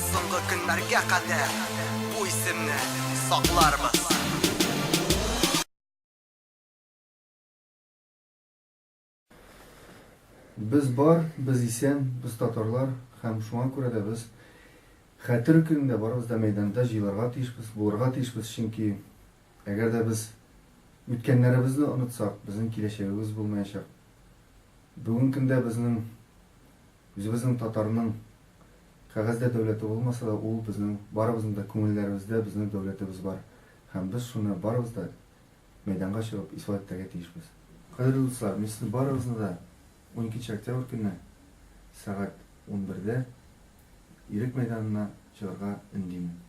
Соңгы көннәргә кадәр бу исемне сакларбыз. Без бар, без исән, без татарлар һәм шуңа күрә дә без Хәтер көнендә барыбыз да мәйданда җыелырга тиешбез, булырга тиешбез, чөнки әгәр дә без үткәннәребезне онытсак, безнең киләчәгебез булмаячак. Бүген көндә безнең Үзебезнең татарның кәгазьдә дәүләте булмаса да, ул безнең барыбызның да күңелләребездә безнең дәүләтебез бар һәм без шуны барыбыз да мәйданга чыгып исбат итәргә тиешбез. Кадерле дуслар, мин сезне барыгызны да уникенче октябрь көнне сәгать унбердә Ирек мәйданына чыгарга өндимен.